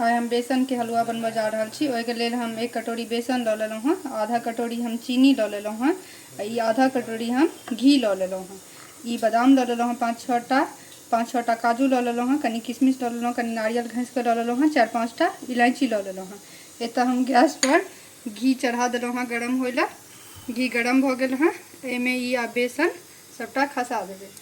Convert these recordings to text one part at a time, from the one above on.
आइ हम बेसनके हलुआ बनबऽ जा रहल छी ओहिके लेल हम एक कटोरी बेसन लऽ लेलहुँ हँ आधा कटोरी हम चीनी लऽ लेलहुँ हँ आ ई आधा कटोरी हम घी लऽ लेलहुँ हँ ई बादाम लऽ लेलहुँ हँ पाँच छओटा पाँच छओटा काजू लऽ लेलहुँ हँ कनि किशमिश लऽ लेलहुँ कनि नारियल घसिकऽ लऽ लेलहुँ हँ चारि पाँचटा इलायची लऽ लेलहुँ हँ एतऽ हम गैसपर घी चढ़ा देलहुँ हँ गरम होइ लए घी गरम भऽ गेल हँ एहिमे ई आ बेसन सभटा खसा देबै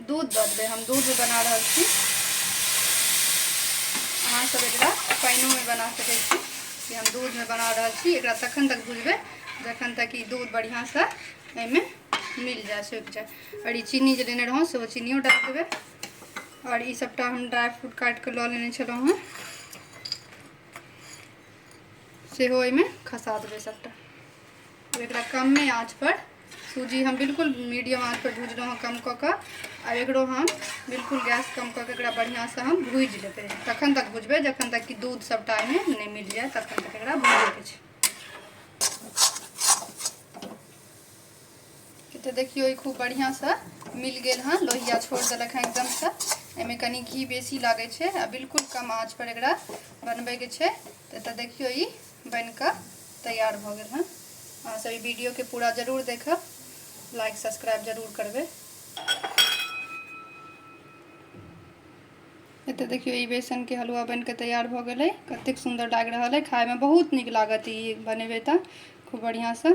दूध दऽ देबै हम दूध बना रहल छी अहाँसभ एकरा पानिओमे बना सकै छी कि हम दूधमे बना रहल छी एकरा तखन तक भुजबै जखन तक ई दूध बढ़िआँसँ एहिमे मिल जाए सुखि जाए आओर ई चीनी जे लेने रहौँ सेहो चीनियो डालि देबै आओर ई सभटा हम ड्राई फ्रूट काटि कऽ लऽ लेने छलहुँ हेँ सेहो एहिमे खसा देबै सभटा एकरा कमे आँचपर सूजी हम बिल्कुल मीडियम आँच पर भूजलहुँ हँ कम कऽ कऽ आ एकरो हम बिल्कुल गैस कम कऽ के एकरा बढ़िआँसँ हम भूजि लेबै तखन तक भुजबै जखन तक कि दूध सभटा एहिमे नहि मिल जाए तखन तक एकरा भूजैके छै तऽ देखियौ ई खूब बढ़िआँसँ मिल गेल हँ लोहिया छोड़ देलक हँ एकदमसँ एहिमे कनि घी बेसी लागै छै आ बिल्कुल कम आँच पर एकरा बनबैके छै तऽ देखियौ ई बनि कऽ तैयार भऽ गेल हँ अहाँ सब ई वीडियो के पूरा जरूर देखब लाइक सब्सक्राइब जरूर करबै एतऽ देखियौ ई बेसनके हलुआ बनि कऽ तैयार भऽ गेलै कतेक सुन्दर लागि रहल अइ खायमे बहुत नीक लागत ई बनेबै तऽ खूब बढ़िआँसँ